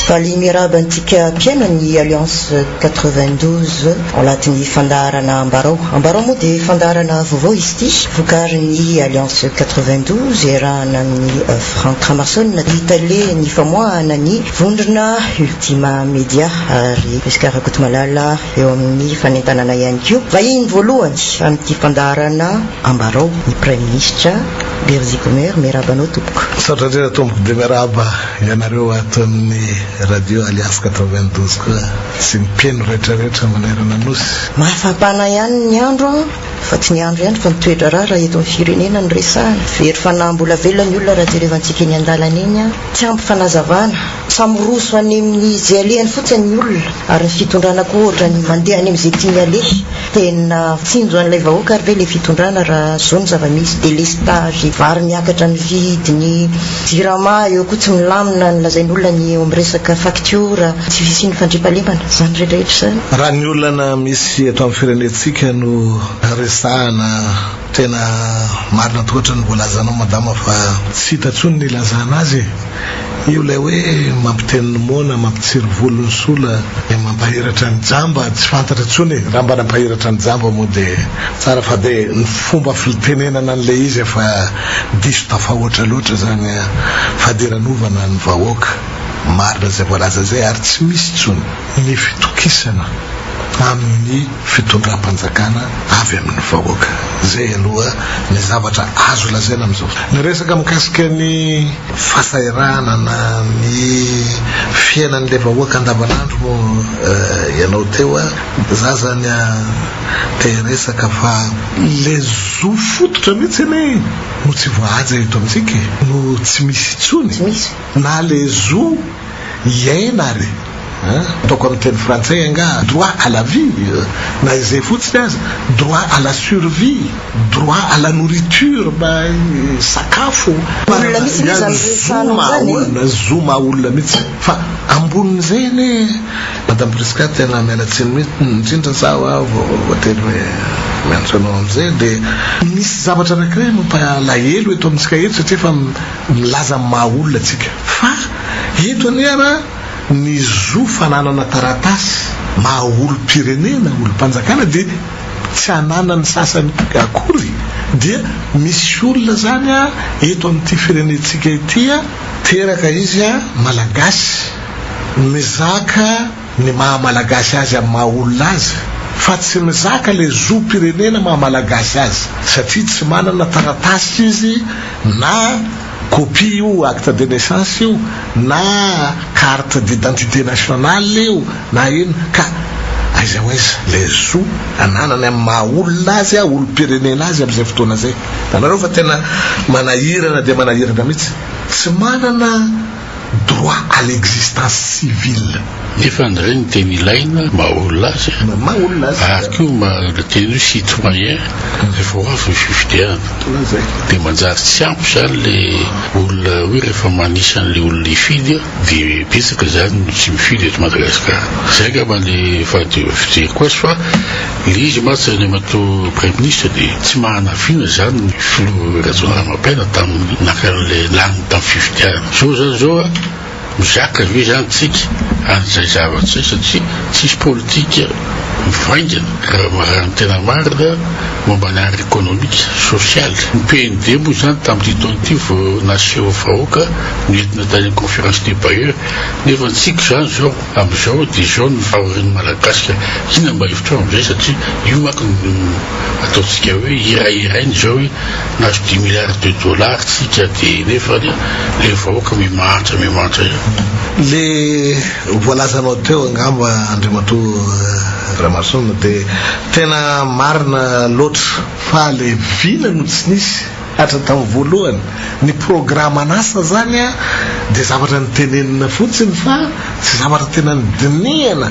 Valiha miarahaba antsika mpihaino ny Alliance 92 ao anatin'ny fandaharana Ambarao. Ambarao moa dia fandaharana vaovao izy ity, vokarin'ny Alliance 92 iarahana amin'ny euh, Franck Ramason i Tale ny famoahana ny vondrona Ultima Media ary Prisca Rakotomalala eo amin'ny fanentanana ihany koa. Vahiny voalohany amin'ity fandaharana Ambarao ny Praiminisitra Berzi Gomer, miarahaba anao tompoko. Misaotra indrindra tompoko dia miarahaba ianareo ato amin'ny Radio Alliance 92 koa sy ny mpino rehetra rehetra manerana nosy. Mahafampana ihany ny andro an! Fa tsy ny andro ihany fa ny toedraharaha raha eto amin'ny firenena no resahana. Very fanahy mbola velona ny olona raha jerevantsika eny an-dalana eny an! Tsy ampy fanazavana. Fa miroso any amin'izay alehany fotsiny ny olona ary ny fitondrana koa ohatra ny mandeha any amin'izay tiany aleha. Tena tsinjo an'ilay vahoaka ary ve ilay fitondrana raha izao ny zava-misy, délestage, vary miakatra ny vidiny, jirama eo koa tsy milamina ny lazain'olona ny eo amin'ny resaka facture, tsy fisian'ny fandriampahalemana, izany rehetra rehetra izany. Raha ny olana misy eto amin'ny firenentsika no resahana. Tena marina tokoa ohatran'ny voalazanao madama fa tsy hita tsony ny ilazana azy e! Io ilay hoe mampiteny ny moana, mampitsiry volo ny sola, dia mampahiratra ny jamba, tsy fantatra tsony e! Raha mba nampahiratra ny jamba moa dia tsara fa dia ny fomba fltenenana an'ilay izy efa diso tafahoatra loatra izany a! Fadiranovana ny vahoaka, marina izay voalaza izay ary tsy misy tsony ny fitokisana amin'ny. fitondram-panjakana avy amin'ny vahoaka. Izay aloha ny zavatra azo lazaina amin'izao fotoana. Ny resaka mikasika ny fahasahiranana, ny fiainan'ilay vahoaka andavanandro moa ianao teo a, za zany a te hiresaka fa. Le zo fototra mihitsy anie no tsy voahaja eto amintsika e, no tsy misy intsony na le zo. hiaina ary ataoko amin'ny teny frantsay angaha droit à la vie na izay fotsiny aza, droit à la survie, droit à la nourriture mba hisakafo, Olona mihitsy anie izany resahana Zoma izany e! olona, zoma olona mihitsy fa ambonin'izay anie Madame Prisca tena miala tsiny mihitsy indrindra zaho a vao voatery hoe miantso anao amin'izay dia misy zavatra anankiray mampalahelo eto amintsika eto satria efa milaza ny maha olona tsika fa eto anie ara ny zo fananana taratasy maha olom-pirenena, olom-panjakana dia tsy ananan'ny sasany akory dia misy olona zany a eto amin'ity firenentsika ity a, teraka izy a malagasy mizaka. ny maha malagasy azy amin'ny maha olona azy fa tsy mizaka ilay zo pirenena maha malagasy azy satria tsy manana taratasy izy na copie io acte de naissance io na carte d'identité nationale io na inn ka aiza ho aiza ilay zo ananany amin'ny maha olona azy a olom pirenena azy amin'izay fotoana izay. Hitanareo fa tena manahirana dia manahirana mihitsy. Tsy manana. Droit à l'existence civile. Nefa ndray ny teny ilaina maha olona azy ary koa maha le teny hoe citoyen rehefa ho avy ny fifidianana dia manjary tsy ampy izany le olona hoe rehefa manisa an'le olona hifidy dia betsaka izany no tsy mifidy eto Madagasikara. Izay angamba ny efa fijeriko azy fa Ilay izy mantsy ry Andriamatoa Praiminisitra dia tsy mahanafina izany ny Filoha Rajaonarimampianina tamin'ny naka an'ilay laniny tamin'ny fifidianana. Izao izany izao a! Mizaka ve izany tsika an'izay zavatra izay satria tsisy politika mivaingana raha ny tena marina momba ny art ekonomika, sosialy. Ny PND moa izany tamin'ity taona ity vao naseho vahoaka noentina tany amin'ny Conférence des Bailleurs nefa ny tsika izany izao. Amin'izao dia izao no fahorian'ny Malagasika, inona mba hevitrao amin'izay satria io manko no ataontsika hoe hirahiraina izao hoe nahazo dix milliards de dollars tsika dia nefa anie ilay vahoaka mimahantra mimahantra ihany. Le voalazanao teo angamba Andriamatoa Ramason dia tena marina loatra fa le vina no tsy nisy. Hatratao voalohany ny programan'asa izany dia zavatra nitenenina fotsiny fa tsy zavatra tena nidinihana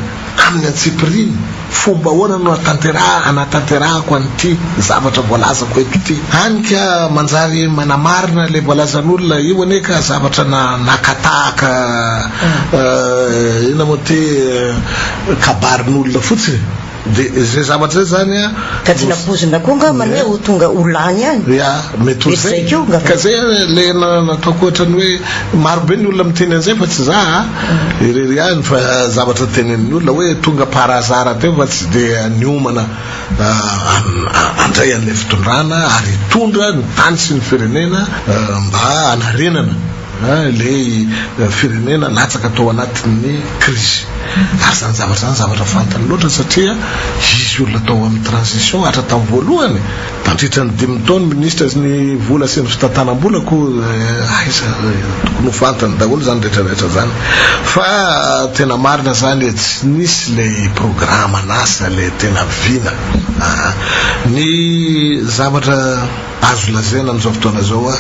amin'ny antsipiriany, fomba ahoana no hanatanterahako an'ity zavatra voalazako eto ity? Hany ka manjary manamarina ilay voalazan'olona, io anie ka zavatra nakatahaka inona moa ity, kabarin'olona fotsiny. De zay zavatra zay zany a. Ka tsy nampoizina koa angamba ny hoe ho tonga ho lany ihany. Ya, mety ho zay. Ka zay le nataoko ohatrany hoe marobe ny olona miteny an'izay fa tsy za a. Irery ihany fa zavatra tenenin'ny olona hoe tonga par hasard teo fa tsy dia niomana handray an'ilay fitondrana ary hitondra ny tany sy ny firenena mba hanarenana. Ilay firenena latsaka tao anatin'ny krizy. Ary izany zavatra izany zavatra fantany loatra satria izy olona tao amin'ny transition hatra tamin'ny voalohany. Nandritra ny dimy taona minisitra ny vola sy ny fitantanam-bola koa aiza tokony ho fantany daholo izany rehetra rehetra izany fa tena marina izany e tsy nisy ilay programan'asa ilay tena vina a. Ny zavatra. Azo lazaina amin'izao fotoana izao hoe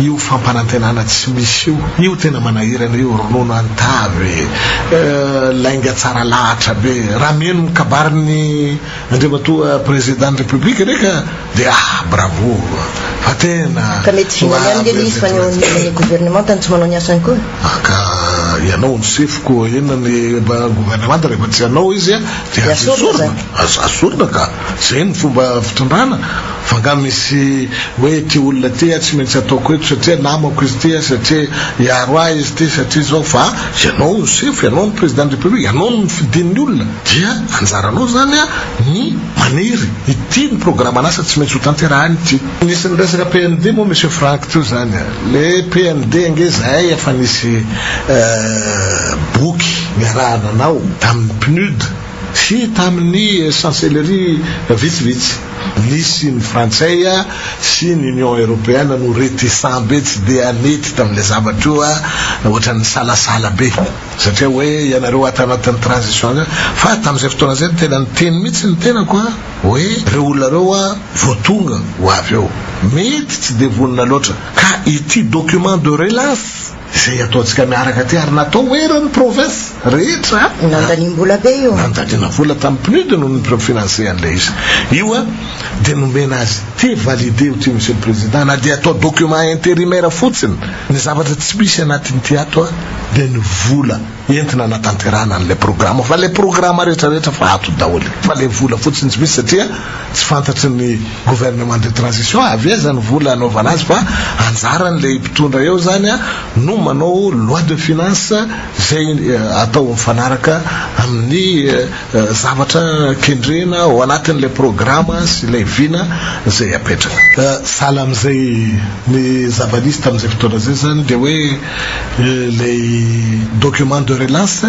io fampanantenana tsy misy io, io tena manahirana io, ronono an-tavy e, lainga tsara lahatra be. Raha mihaino ny kabarin'ny Andriamatoa Prezidan'ny Repoblika re ka dia ah bravo fa tena. Ka mety vinany ihany ve ny izy fa ny eo anivon'ny governemanta no tsy manao ny asany koa? Ah ka ianao no sefo koa inona ny governemanta rehefa tsy ianao izy dia aza esorina, aza esorina ka. Zay no fomba fitondrana? Fa nga misy hoe ty olona ty a tsy maintsy ataoko eto satria namako izy ty a, satria hiaro ahy izy ty, satria zao, fa ianao no sefo, ianao no président de république, ianao no nofidin'ny olona, dia anjaranao zany a ny maniry, ity ny programan'asa tsy maintsy ho tanterahiny ity. Nisy niresaka PND moa Monsieur Franck teo zany a, le PND ange zahay efa nisy boky niarahana anao tamin'ny PNUD, sy tamin'ny chancellerie vitsivitsy. Nisy ny frantsay sy ny Union Européenne no réticents be, tsy dia nety tamin'ilay zavatra io, ohatrany nisalasala be satria hoe ianareo ato anatin'ny transition zany, fa tamin'izay fotoana izay tena niteny mihitsy ny tenako hoe ireo olona ireo vao tonga ho avy eo mety tsy dia vonona loatra ka ity document de relance, Izay ataontsika miaraka aty ary natao ho eran'ny province rehetra a! Nandaniam-bola be io a! Nandaniana vola tamin'ny PNUD no ni-financer an'ilay izy io a! Dia nomena azy ity, valider-o ity Monsieur le Président, na dia atao document intérimaire fotsiny ny zavatra tsy misy anatin'ity ato a! Dia ny vola. entina anatanterahana an'ilay programa fa ilay programa rehetra rehetra fa ato daholo fa ilay vola fotsiny tsy misy satria tsy fantatry ny gouvernement de transition avy aiza ny vola anaovana azy fa anjaran'ilay mpitondra eo zany a no manao loi de finance zay eh, atao mifanaraka amin'ny eh, eh, zavatra kendrena ao anatin'ilay programa sy ilay vina zay apetraka Eh, sahala amin'izay ny zava-nisy tamin'izay fotoana izay zany dia hoe Ilay document de relance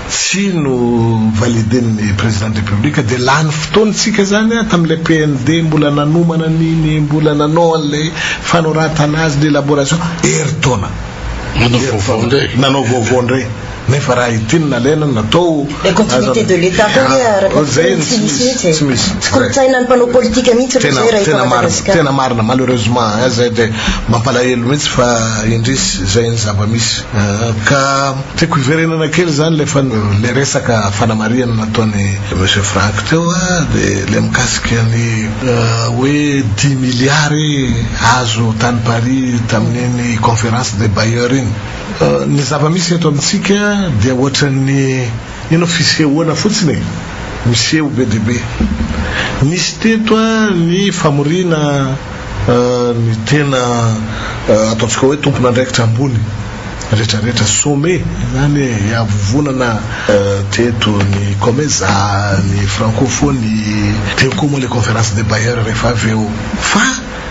tsy no validen'ny Président de République dia lany fotoana isika izany an, tamin'ilay PND mbola nanomana an'iny, mbola nanao an'ilay fanoratana azy, ny élaboration, herintaona. Nanao vaovao indray. Nanao vaovao indray. Nefa raha ity no nalaina no natao, Le continuité de l'Etat koa nge ah, raha zay no tsy misy mihitsy e. Tsy misy. Tsy kolontsainan'ny mpanao politika mihitsy aloha zay raha eto Madagasikara. Tena marina, malheureusement eh, zay dia mampalahelo mihitsy fa indrisy zay ny zava-misy. Ah, ka tiako hiverenana kely zany le fa le resaka fanamarihana nataon'i Monsieur Franck teo ah, de le mikasika ny ah, hoe dimy milliards azo tany Paris tamin'iny conférence des bailleurs iny. Ny zava-misy eto amintsika dia ohatran'ny inona fisehoana fotsiny e! miseho be dia be. Nisy teto ny famoriana ny tena ataontsika hoe tompon'andraikitra ambony rehetra rehetra, sommet izany e! hiavovonana teto ny Comesa, ny Francophonie, teo koa moa ilay Conférence des Bailleurs rehefa avy eo fa.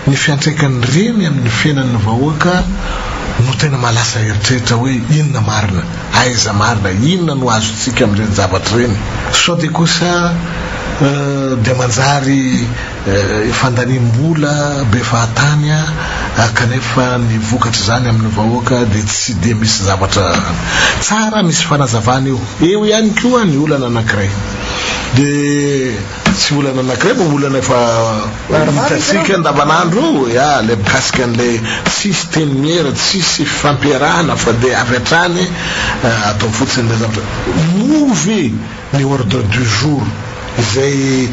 Ny fiantraikan'ny reny amin'ny fiainan'ny vahoaka no tena maha lasa eritreritra hoe inona marina, aiza marina, inona no azontsika amin'ireny zavatra ireny? Sao dia kosa dia manjary fandaniam-bola be fahatany kanefa ny vokatr'izany amin'ny vahoaka dia tsy dia misy zavatra tsara misy fanazavana eo. Eo ihany koa ny olana anankiray dia. Tsy olana anakiray fa olana efa hitantsika andavanandro eo ya le mikasika an'ilay tsisy teny miera, tsisy fifampiarahana fa dia avy hatrany atao fotsiny ilay zavatra. Moa ve ny ordre du jour izay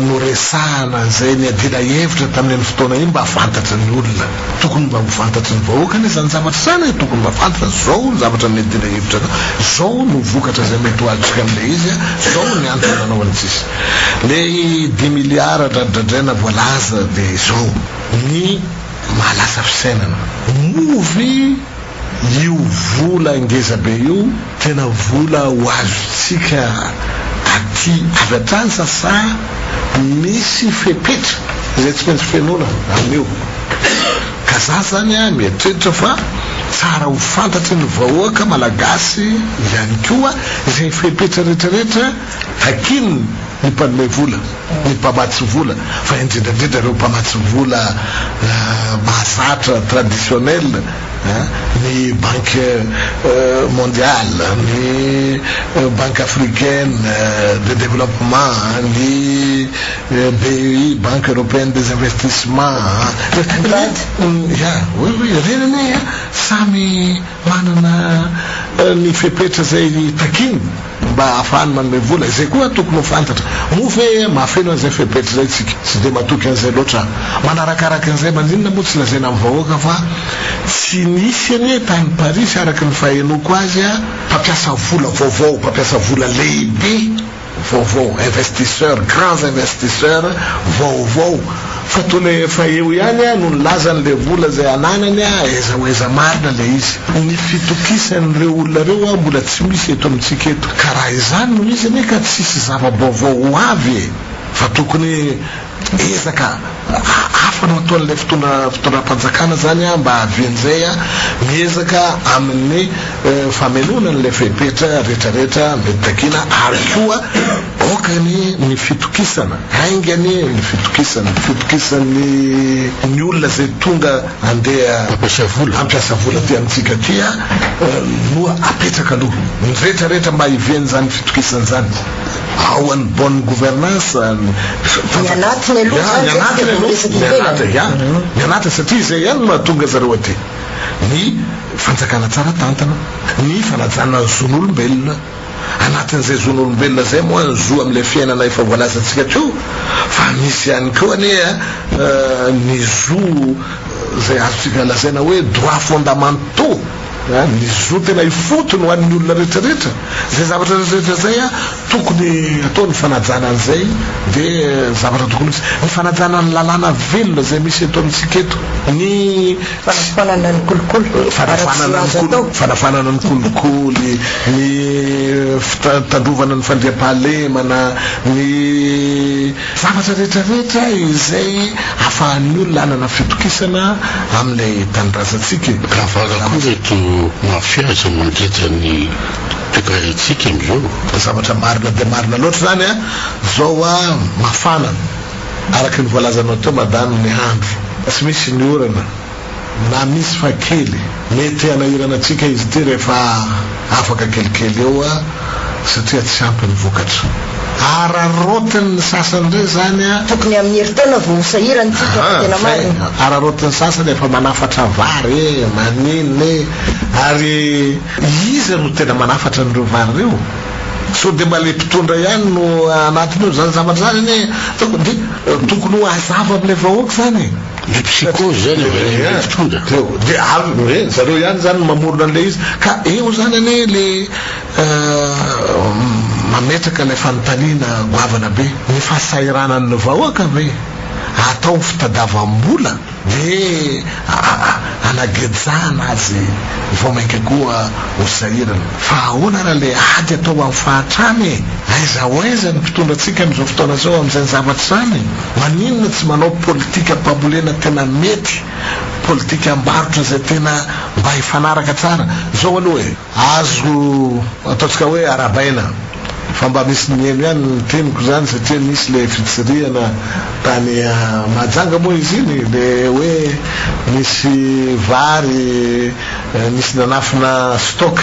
noresahana izay niadiana hevitra tamin'iny fotoana iny mba fantatry ny olona? Tokony mba ho fantatry ny vahoaka anie zany zavatra zany e, tokony mba fantatra zao ny zavatra mety ilay hevitra ka, zao no vokatra zay mety ho azontsika amle izy a, zao ny antony nanaovany cis. Lay dimy milliards dradradraina voalaza de zao, ny mahalasa fisainana. Moa ve. Io vola ngezabe io tena vola ho azontsika aty avy hatrany sa sa misy fepetra izay tsy maintsy fenoina amin'io? Ka za zany a mieritreritra fa tsara ho fantatry ny vahoaka malagasy ihany koa izay fepetra retraretra takian'ny mpanome vola. ny mpamatsy vola fa indrindra indrindra ireo mpamatsy vola mahazatra traditionnel ny banque mondiale, ny banque africaine de développement, ny BEI, banque européenne des investissements, Ny Brad? Ia, oui, oui, ireny anie samy. Manana ny fepetra izay takiany mba hahafahany manome vola. Izay koa tokony ho fantatra. Moa ve mahafeno an'izay fepetra izay isika? Tsy dia matoky an'izay loatra aho. Manarakaraka an'izay, maninona moa tsy lazaina amin'ny vahoaka fa tsy nisy anie tany Parisy, araka ny fahenoako azy, mpampiasa vola vaovao, mpampiasa vola lehibe? vaovao investisseur grands investisseur vaovao fa toa le efa eo ihany a no nilazany le vola zay ananany a aiza ho aiza marina le izy ny fitokisany reo olona reo a mbola tsy misy eto amintsika eto ka raha izany no izy anie ka tsisy zava-baovao ho avy e fa tokony Ezaka hafa no ataon'ilay fitondra fitondram-panjakana izany mba hahavian'izay miezaka amin'ny famenoana an'ilay fepetra rehetrarehetra mety takiana ary koa aokany ny fitokisana, haingany ny fitokisana, ny fitokisan'ny ny olona izay tonga handeha hampiasa vola aty amintsika aty no apetraka aloha, ny rehetrarehetra mba hivian'izany fitokisana izany. Ao an'ny bonne gouvernance ny fanjakana. Ny anatiny aloha izany dia vao resaka ivelany. Ny anatiny satria izay ihany no mahatonga zareo aty. Ny fanjakana tsara tantana, ny fanajana ny zon'olombelona. Anatin'izay zon'olombelona izay moa ny zo amin'ilay fiainana efa voalazantsika teo fa misy ihany koa anie ny zo izay azontsika lazaina hoe droits fondamentaux. Ny zo tena ifotony ho an'ny olona rehetrarehetra, izay zavatra rehetrarehetra izay tokony atao ny fanajana an'izay dia zavatra tokony ho izy. Ny fanajana ny lalàna velona izay misy eto amintsika eto, ny. Fanafoanana ny kolikoly, fanafoanana ny kolo, fanafoanana ny kolikoly, ny fitandrovana ny fandriampahalemana, ny. Zavatra rehetra rehetra izay afahan'ny olona hanana fitokisana amin'ilay tanindrazantsika e. Avara koa ireto mafia izay mangeja ny toekarentsika amin'izao. Zavatra marina dia marina loatra izany an! Zao a mafana, araky ny voalazanao teo madame ny andro. Tsy misy ny orana. Na misy fa kely. Mety hanahirana antsika izy ity rehefa afaka kelikely eo satria tsy ampy ny vokatra. Araraotiny ny sasany indray izany an! Tokony amin'ny herintaona vao ho sahirana isika raha tena marina. Ahaa, araraotin'ny sasany efa manafatra vary e, maninona e! Ary iza no tena manafatra an'ireo vary ireo? Sao dia mba ilay mpitondra ihany no anatiny ao? Izany zavatra izany anie tokony ho hazava amin'ilay vahoaka izany e! Ny psychose zany avy any amin'ilay mpitondra. Dia avy hoe zareo ihany zany no mamorona an'ilay izy. Ka eo zany anie le mametraka ilay fanontaniana goavana be. Ny fahasahiranan'ny vahoaka ve atao fitadavam-bola dia anagejana azy vao mainka koa ho sahirana. Fa ahoana ary le ady atao amin'ny fahantrana e? Aiza ho aiza ny mpitondra antsika amin'izao fotoana izao amin'izany zavatra izany? Maninona tsy manao politika mpambolena tena mety, politika ambarotra izay tena mba hifanaraka tsara zao aloha e. Azo ataontsika hoe arabaina fa mba misy niheno ihany ny teniko izany satria nisy le fitsirihana tany Mahajanga moa izy iny le hoe misy vary Nisy nanafina stock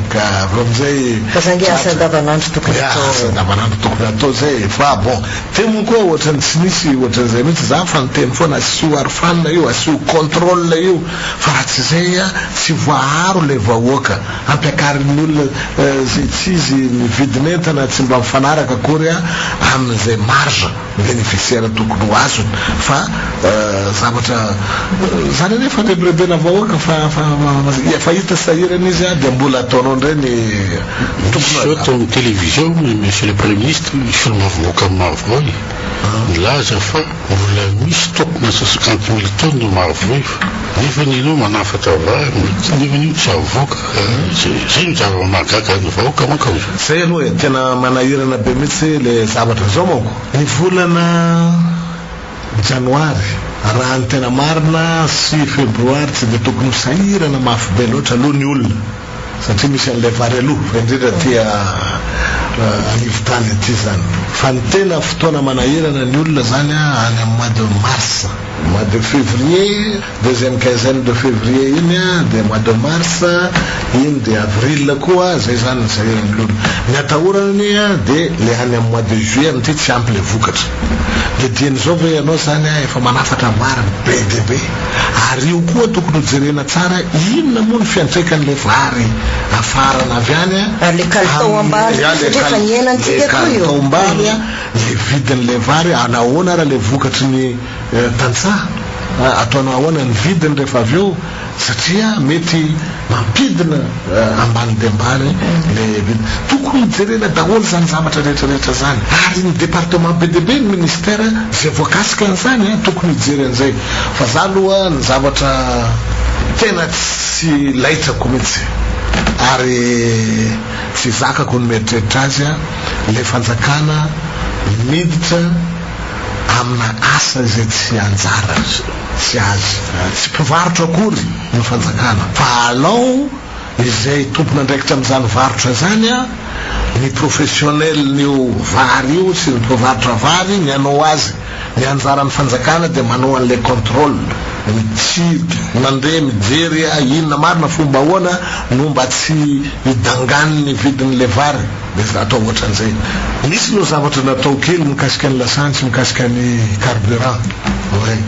ka avy eo amizay. Fa za nge asa andavanandro tokony atao. Ya asa andavanandro tokony atao zay e! Fa bon teo moa koa ohatrany tsy nisy ohatran'izay mihitsy za fa niteny foana asio arfan io asio control io fa raha tsy zay a tsy voaharo le vahoaka ampiakarin'ny olona zay tsy izy ny vidin'entana tsy mba mifanaraka akory a amin'izay marge Beneficiaire tokony ho azony fa zavatra zany anie efa rebirebena vahoaka fa efa hita sahirana izy dia mbola ataonao indray ny tokony ho atao. Misy zao tao amin'ny télévision monsieur le premier ministre misorona vahoaka maro be milaza fa mbola misy stock na cinquante mille tonnes marvy nefa ny ianao manafatra vary nefany io tsy avoaka Satria ny zava-mahagaga ny vahoaka manko aloha. Zay aloha e, tena manahirana be mihitsy le zavatra zao manko. Ny volana janoary raha ny tena marina sy febroary tsy dia tokony ho sahirana mafy be loatra aloha ny olona satria misy an'ilay vary aloha fa indrindra aty anivon-tany aty zany fa ny tena fotoana manahirana ny olona zany any amin'ny mois de mars, mois de fevrier Deuxième quinzaine de février iny a, dia mois de mars, iny dia avril koa, zay zany ny sahiran'ny olona. Ny atahorana anie a, dia le any amin'ny mois de juillet amin'ity tsy ampy le vokatra. Le dian'izao ve ianao zany a, efa manafatra marina be dia be. Ary io koa tokony ho jerena tsara inona moa ny fiantraikan'le vary afarana avy any a, Ary le kalitao am-bary koa satria efa nihena antsika koa io. Le kalitao am-bary a, le vidin'le vary, anahoana ary le vokatry ny. Tantsaha, ataonao ahoana ny vidiny rehefa avy eo satria mety mampidina ambany dia ambany le vidiny. Tokony jerena daholo izany zavatra rehetra rehetra izany ary ny departement be dia be ny ministère izay voakasika an'izany tokony hijery an'izay fa za aloha ny zavatra tena tsy laitrako mihitsy ary tsy zakako ny mieritreritra azy le fanjakana miditra amina asa izay tsy anjarany sy azy. Tsy mpivarotra akory ny fanjakana fa alao izay tompon'andraikitra amin'izany varotra izany, ny professionnel-n'io vary io sy ny mpivarotra vary ny anao azy. Ny anjaran'ny fanjakana dia manao an'ilay contrôle, mitsidika, mandeha mijery inona marina, fomba ahoana no mba tsy hidangan'ny vidin'ilay vary. Dia efa atao ohatran'izay. Nisy aloha zavatra natao kely mikasika ny lasantsy, mikasika ny carburant. Oay.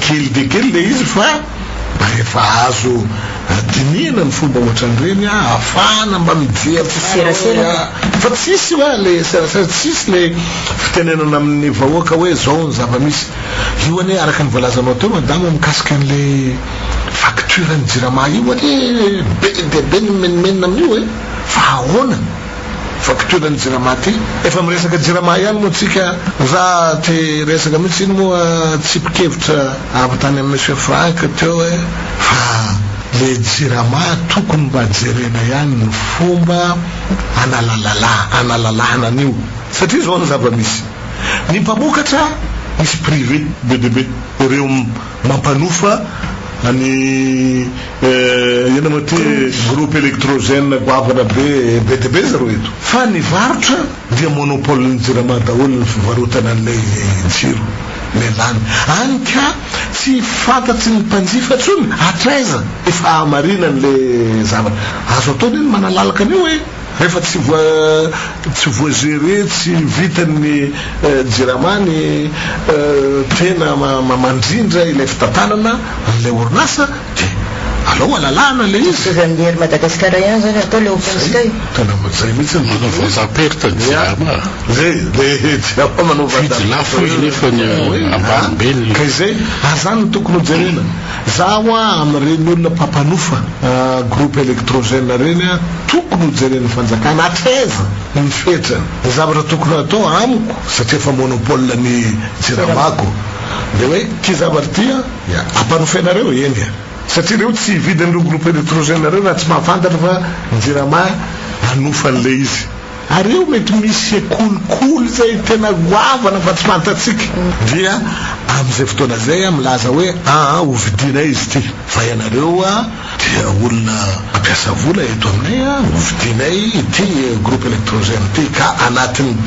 Kely dia kely ilay izy fa mba efa azo dinihina ny fomba ohatran'ireny ahafahana mba mijery tsara hoe a. Fa tsisy hoa ilay serasera, tsisy ilay fitenenana amin'ny vahoaka hoe izao ny zava-misy. Io anie araka ny voalazanao teo madama mikasika an'ilay facture ny jirama io anie be dia be ny mimenomenona amin'io e. Fa ahoana? Fampitoerana ny jirama aty? Efa miresaka jirama ihany moa tsika ra te hiresaka mihitsy iny moa tsipikevitra avy tany amin'i Monsieur Franck teo hoe fa le jirama tokony mba jerena ihany ny fomba analalala analalana an'io satria izao ny zava-misy ny mpamokatra misy privé be dia be ireo Mampanofa an'i Iena Maty groupe electrogène goavana be be dia be zareo eto. Fa ny varotra dia monopole ny jirama daholo ny fivarotana an'ilay jiro ilay lany any ka tsy fantatry ny mpanjifa tsony hatraiza efa hahamarinan' ilay zavatra azo atao anie ny manalalaka an'io e. Rehefa tsy tsy voa gerer tsy vitan'ny jirama ny tena mandrindra ilay fitantanana an'ilay orinasa dia alao halalahana ilay izy. Mitovy amin'ny ery Madagascar ihany izany atao ilay open sky. Zay, tena zay mihitsy no manao vente à perte ny jirama. Zay, le jirama manao vente à perte. Mividy lafo izy nefa ny ambanimbeny. Ka izay, ary zany no tokony ho jerena. Za hoa amin'ireny olona mpampanofa groupe electrogène ireny a, tokony ho jeren'ny fanjakana hatraiza ny fetrany. Ny zavatra tokony hatao amiko satria efa monopole ny jiramako dia hoe ity zavatra ity a dia ampanofainareo eny a. Satria ireo tsy hividy an'ireo groupe electrogène ireo raha tsy mahafantatra fa ny jirama hanofa an'ilay izy. Ary eo mety misy sekolikoly zay tena goavana fa tsy fantatsika dia amin'izay fotoana zay ah milaza hoe aa hovidianay izy ity fa ianareo ah dia olona mampiasa vola eto aminay ah hovidianay ity groupe electrogène ity ka anatin'ny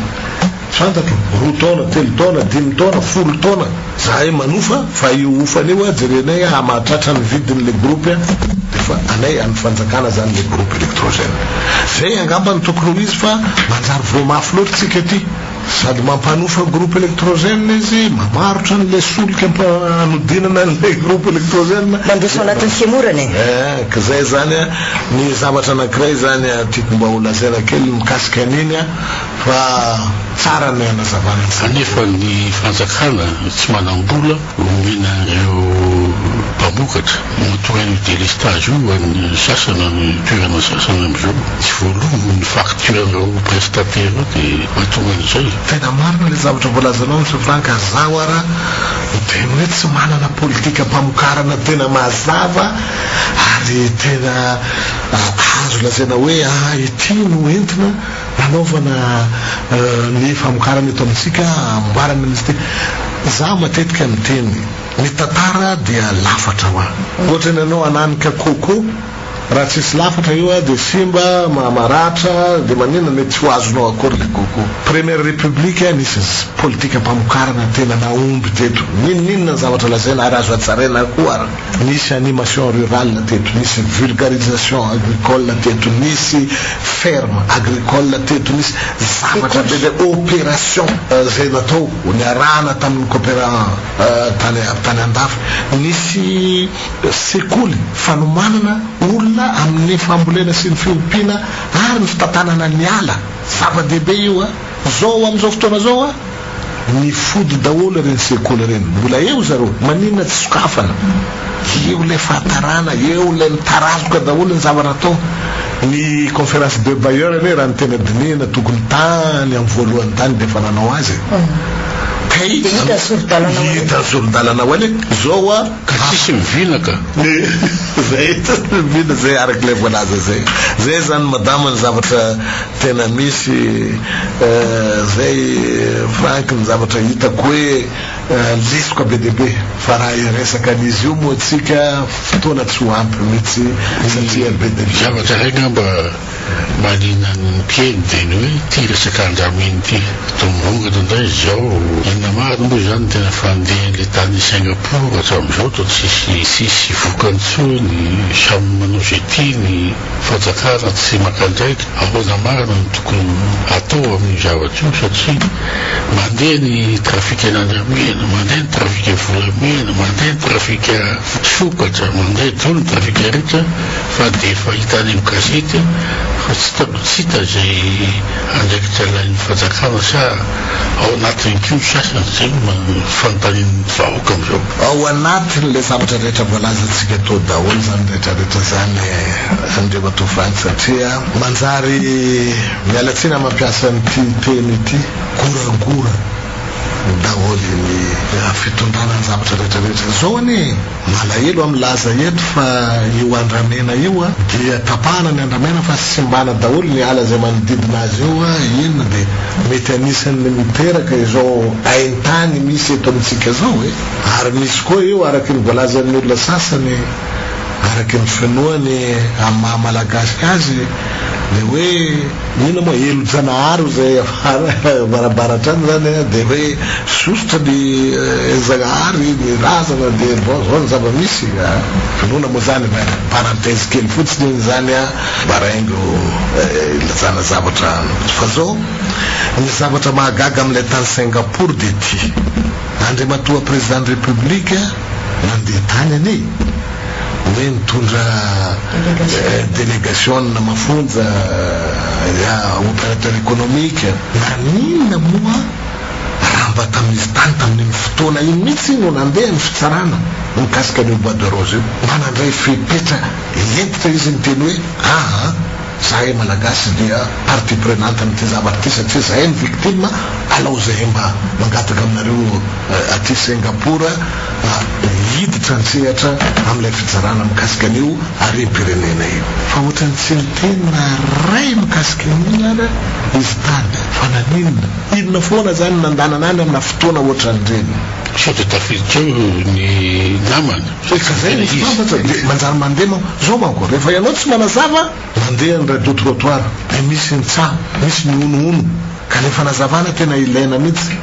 Fantatro, roa taona, telo taona, dimy taona, folo taona, zahay manofa fa io hofany io a, jerenay a, mahatratra ny vidiny le groupe a, de fa anay an'ny fanjakana zany le groupe electrogène. Zay angamba no tokony ho izy fa manjary voa mafy loatra tsika aty, sady mampanofa groupe electrogène izy, mamarotra an'le solika mpa hanodinana an'le groupe electrogène, Mandefa ao anatin'ny fihemorana e! Eeh, ka zay zany a, ny zavatra anankiray zany a tiako mba ho lazaina kely mikasika an'iny a, Fa tsara ny hanazavana izany. Kanefa ny fanjakana tsy manam-bola omena ireo mpamokatra. Matoa io délestage io ho an'ny sasany amin'ny toerana sasany amin'izao tsy voaloa ny facture ireo prestataire ireo dia mahatonga an'izay. Tena marina ilay zavatra voalazanao Monsieur Franck, zaho ara dia ny hoe tsy manana politikam-pamokarana tena mazava ary tena azo lazaina hoe ity no entina, Hanaovana ny famokarana eto amintsika amboara minisitera. Za matetika miteny, ny tantara dia lafatra hoa. Ohatra ny anao hananika coco, raha tsisy lafatra io dia simba, maratra, dia maninona mety tsy ho azonao akory le coco. Première République nisy politika pamokarana tena nahomby teto. Ninoninona ny zavatra lazaina ary azo hajaraina koa ary. Nisy animation rurale teto, nisy vulgarisation agricole teto, nisy ferme agricole teto, nisy zavatra be dia opération izay natao, niarahana tamin'ny cooperant tany andafy. Nisy sekoly fanomanana olona amin'ny fambolena sy ny fiompiana ary ny fitantanana ny ala. Zava-dehibe io izao amin'izao fotoana izao. Nifody daholo ireny sekoly ireny. Mbola eo zareo. Maninona tsy sokafana? Eo ilay fahatarana, eo ilay mitarazoka daholo ny zavatra atao. Ny conférence de bailleurs anie raha ny tena dinihina tokony tany amin'ny voalohany tany dia efa nanao azy e. Kay hita ny sori-dalana ho any e. Zao hoa. Ka tsisy mivina ka. Zay mivina zay araka ilay voalaza zay. Zay zany madama ny zavatra tena misy eh, zay Franck ny zavatra hitako hoe lesoka be dia be. Fa raha hiresaka an'izy io moa tsika fotoana tsy ho ampy mitsy satria be dia be. Zavatra hay ngamba. Mahaliana ny mpihaino ny teny hoe ity resaka andramena ity. Dongongana indray izao. Inona marina moa izany ny tena fandehan'ilay tany Singapour hatramin'izao toa tsisy tsisy vokany intsony? Samy manao izay tiany. Fanjakana tsy maka andraikitra. Ahoana marina no tokony hatao amin'io zavatra io satria mandeha ny trafikan'andramena, mandeha ny trafika volamena, mandeha ny trafika sokatra, mandeha daholo ny trafikaritra. Fa dia efa hita any amin'ny gazety fa tsy hita mba tsy hita izay andraikitra alain'ny fanjakana sa ao anatiny koa ny sasany? Izay no fanontanian'ny vahoaka amin'izao. Ao anatin'ilay zavatra rehetra voalazantsika teo daholo izany rehetra rehetra izany Andriamatoa Franck satria manjary miala tsiny amin'ny mampiasa an'ity teny ity, goragora daholo ny fitondrana ny zavatra rehetra rehetra izao anie e! Malahelo aho milaza eto fa io andramena io dia tapahana ny andramena fa simbana daholo ny ala izay manodidina azy eo, iny dia mety anisan'ny miteraka izao haintany misy eto amintsika izao e! Ary misy koa io araky ny voalazan'ny olona sasany araky ny finoany amin'ny maha malagasy azy le hoe. Inona moa Helojanahary izay avarabaratra any izany an, dia hoe zosotra ny Helojagnahary, ny razana dia zao zao ny zava-misy ka. Inona moa izany an, parenthèse kely fotsiny io izany an, baraingo ilazana zavatra fa zao, ny zavatra mahagaga amin'ilay tany Singapour dia ity, Andriamatoa Président de République nandeha tany anie, hoe nitondra delegasiona mafonja operateur ekonomika. Naninona moa raha mba tamin'izy tany tamin'iny fotoana iny mihitsy no nandeha ny fitsarana mikasika an'io bois de rose io? Manandray fepetra hentitra izy niteny hoe, Aa. Zahay malagasy dia partie prenante amin'ity zavatra ity satria zahay no victime, alao zahay mba mangataka aminareo aty Singapour hiditra an-tsehatra amin'ilay fitsarana mikasika an'io harem-pirenena io. Fa ohatran'ny tsy niteny na iray mikasika an'iny ary izy tany fa naninona? Inona foana zany no nandanana any amina fotoana ohatran'ireny? Sao dia tafiditra ao ny namana? Rehefa zay misy mpambatra dia manjary mandeha manko. Zao manko, rehefa ianao tsy manazava, mandeha ny radio trottoir dia misy ny tsaho, misy ny honohono ka ilay fanazavana tena ilaina mihitsy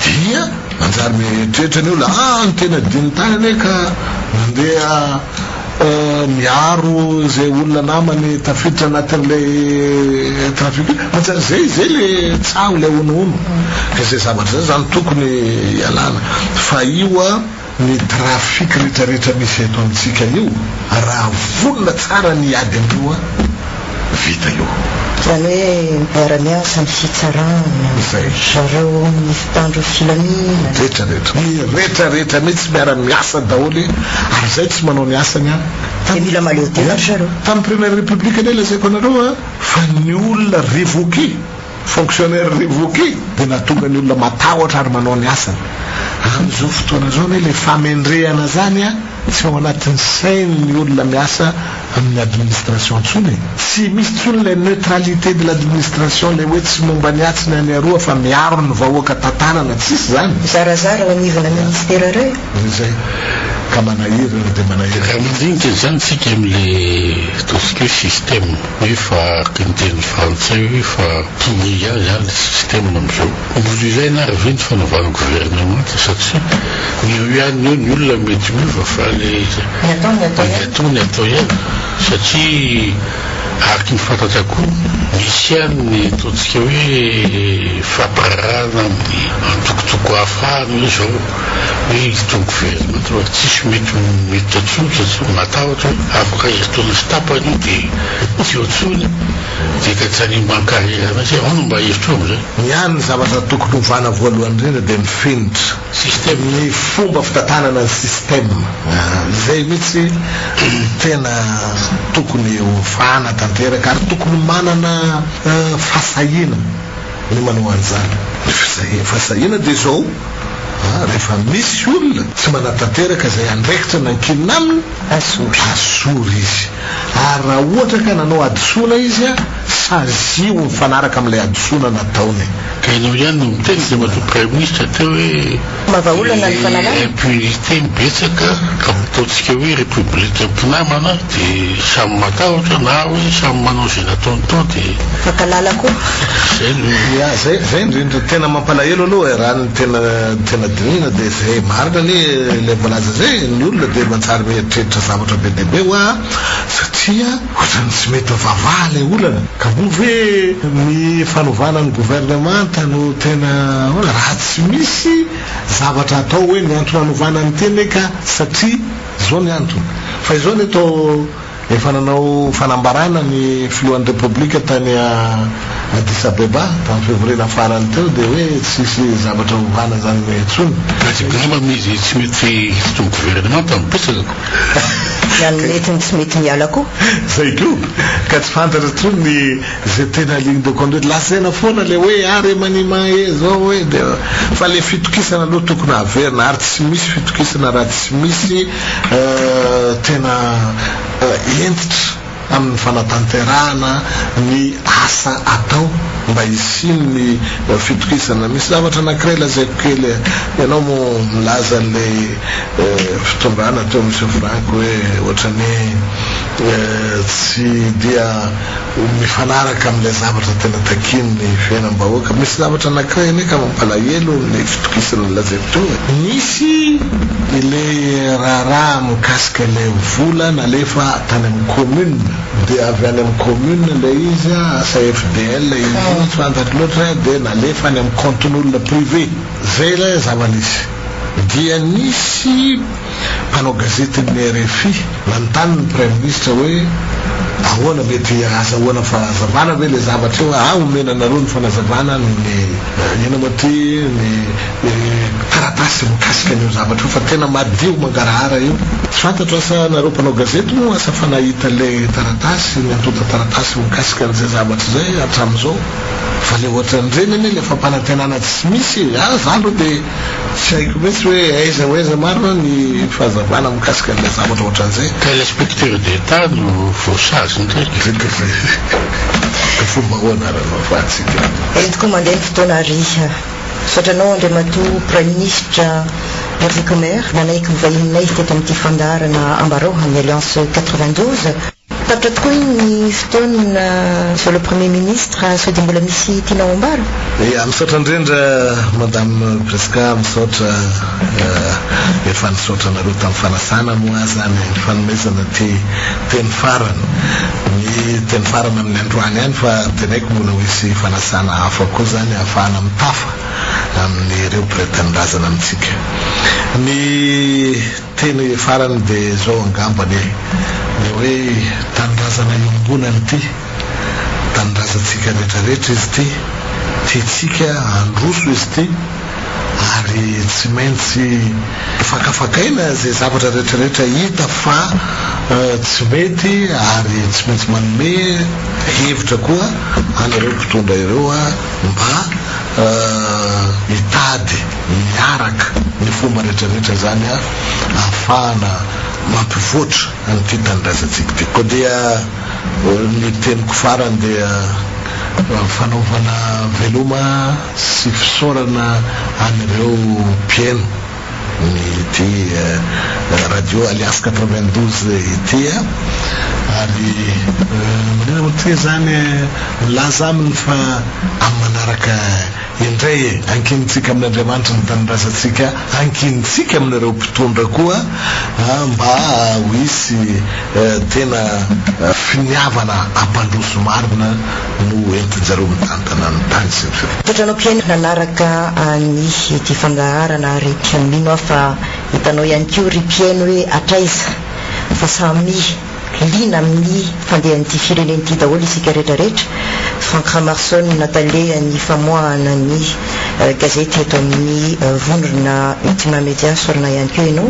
dia manjary mieritreritra ny olona a, ny teny adinony tany anie ka mandeha miaro izay olona namany tafiditra anatin'ilay trafic io. Manjary zay, zay ilay tsaho, ilay honohono. Ka izay zavatra izay zany tokony hialana fa io a. Ny trafic retraretra misy eto amintsika io raha vonona tsara ny ady amio a! vita io. Zany hoe miara miasa ny fitsarana, zareo amin'ny mpitandro filaminana. Retraretra. Ny retraretra mihitsy miara miasa daholo ary zay tsy manao ny asany a! Dia mila mahaleo tena ry zareo. Tamin'ny première république anie lazaiko anareo a! Fa ny olona revoquer. Fonctionnaire revoqué dia nahatonga ny olona matahotra ary manao ny asany. Amin'izao fotoana izao anie ilay famendrehana izany tsy ao anatin'ny sain'ny olona miasa amin'ny administration intsony e! Tsy misy intsony ilay neutralité de l'administration, ilay hoe tsy momba ny atsy na ny aroa fa miaro ny vahoaka tantanana, tsisy izany. Zarazara ao anivona ministera reo. Dia izay. Ka manahirana dia manahirana. Ka mandinika izany tsika amin'ilay ataontsika hoe système. Efa araka ny teny frantsay hoe efa pourri aza ny système amin'izao. Mbola ilaina ary ve ny fanovana governemanta satria ny eo ihany eo ny olona mety miova fa ny atao ny atao ihany satria araka ny fantatsy akoho misy ihany ny ataontsika hoe fampirarahana amin'ny antokotoko hafa any hoe izao. Miditra ny gouvernemanta fa tsisy mety miditra intsony satria matahotra hoe afaka herintaona sy tapany io dia tsy eo intsony dia ka tsy hanimba ny carrière mihitsy hoe ahoana mba hevitro amin'izay? Ny ahy ny zavatra tokony hovana voalohany indrindra dia ny fenitra, ny fomba fitantanana ny système, izay mihitsy no tena tokony hovana tanteraka ary tokony manana fahasahiana ny manao an'izany, ny fahasahiana dia izao. Rehefa misy olona tsy manatanteraka izay andraikitra nankinina aminy, asory izy. Ary raha ohatra ka nanao hadisoana izy, saziho mifanaraka amin'ilay hadisoana nataony. Ka ianao ihany no miteny dia matoa praiminisitra teo hoe les impunités betsaka ka ataontsika hoe république mpinamana dia samy matahotra na hoe samy manao izay nataony tao dia Makalala koa. Zay no ya zay zay indrindra tena mampalahelo aloha e raha ny tena tena dinihina dia zay marina anie ilay voalaza zay ny olona dia manjary mieritreritra zavatra be dia be hoa satria ohatran'ny tsy mety mivavaha ilay olana ka moa ve ny fanovana ny governemanta no tena ahoana raha tsy misy zavatra atao hoe ny antony anovana an'ity anie ka satria izao ny antony fa izao anie toa Efa nanao fanambarana ny filohan'ny Repoblika tany Addis Abeba tamin'ny fivoriana farany teo dia hoe tsy hisy zavatra hovana izany intsony. Tsy mety angamba izy tsy mety hisitry ny governemanta no betsaka. Na ny mety no tsy mety miala koa. Izay koa. Ka tsy fantatra intsony ny izay tena ligne de conduite. Lazaina foana ilay hoe ah remaniement eh izao eh dia fa ilay fitokisana aloha tokony haverina ary tsy misy fitokisana raha tsy misy Tena hentitra amin'ny fanatanterahana ny asa atao mba hisian'ny fitokisana. Misy zavatra anankiray lazaiko kely, ianao moa milaza an'ilay fitondrana teo amin'i Sefranco hoe ohatran'ny hoe tsy dia. ho mifanaraka amin'ilay zavatra tena takian'ny fiainam-bahoaka. Misy zavatra anankiray anie ka mampalahelo ny fitokisana nolazaiko teo e! Nisy ilay raharaha mikasika ilay vola nalefa tany amin'ny commune, dia avy any amin'ny commune ilay izy an, asa FDL izy iny, tsy fantatro loatra, dia nalefa any amin'ny compte-n'olona privé. Izay ilay zava-nisy. Dia nisy. Mpanao gazetin'ny rfi nanontany ny Praiminisitra hoe ahoana, mety ahazahoana fanazavana ve ilay zavatra io, ah omena anareo ny fanazavana noho ny inona moa ity, ny taratasy mikasika an'io zavatra io fa tena madio mangarahara io. Tsy fantatro asa anareo mpanao gazety moa asa fa nahita ilay taratasy, ny antontan-taratasy mikasika an'izay zavatra izay hatramin'izao, fa ilay ohatran'ireny anie ilay fampanantenana tsy misy e! ah za aloha dia. Tsy haiko mihitsy hoe aiza ho aiza marina ny fahazavana mikasika an'ilay zavatra ohatran'izay. Ka inspecteur d'Etat no voasazy indrindra. Fomba ahoana ary hanao fantsika an. Entiko mandeha ny fotoana ry. Misaotra anao Andriamatoa Praiminisitra Herzikomer nanaiky ho vahininay teto amin'ity fandaharana Ambarao amin'ny Alliance 92. Tapitra tokoa iny ny fotoana zao le premier ministre sao dia mbola misy tiana ho ambara? Ya, misaotra indrindra Madame Prisca, misaotra efa nisaotra anareo tamin'ny fanasana moa aza ny fanomezana ity teny farany, ny teny farany amin'ny androany any fa teneniko mbola ho hisy fanasana hafa koa izany hahafahana mitafa amin'ireo mpiray tanindrazana amintsika. Ny. Teny farany de zao angambany e! Le hoe tanindrazana iombonany ty! Tanindrazantsika rehetra rehetra izy ty! Tiantsika handroso izy ty! Ary tsy maintsy fakafakaina ze zavatra rehetra rehetra hita fa tsy mety ary tsy maintsy manome hevitra koa anareo mpitondra ireo mba hitady miaraka ny fomba rehetra rehetra izany ahafahana mampivoatra an'ity tanindrazantsika ity. Koa dia ny teniko farany dia fanaovana veloma sy fisaorana an'ireo mpieno ny ity radio alias quatre-vingt-douze ity ary maninona moa toy izany milaza aminy fa amin'ny manaraka Indray e, ankinintsika amin'Andriamanitra ny tanindrazantsika, ankinintsika amin'ireo mpitondra koa mba ho hisy tena finiavana hampandroso marina no entin-jareo mitantana ny tany sy ny firenena. Toetra anao Ken nanaraka ny ity fandaharana ary mino aho fa hitanao ihany koa ry mpihaino hoe hatraiza fa samy. Liana amin'ny fandehan'ity firenena ity daholo isika rehetra rehetra. Franck Ramarson talehan'ny famoahana ny gazety eto amin'ny vondrona Ultima Media sorona ihany koa ianao.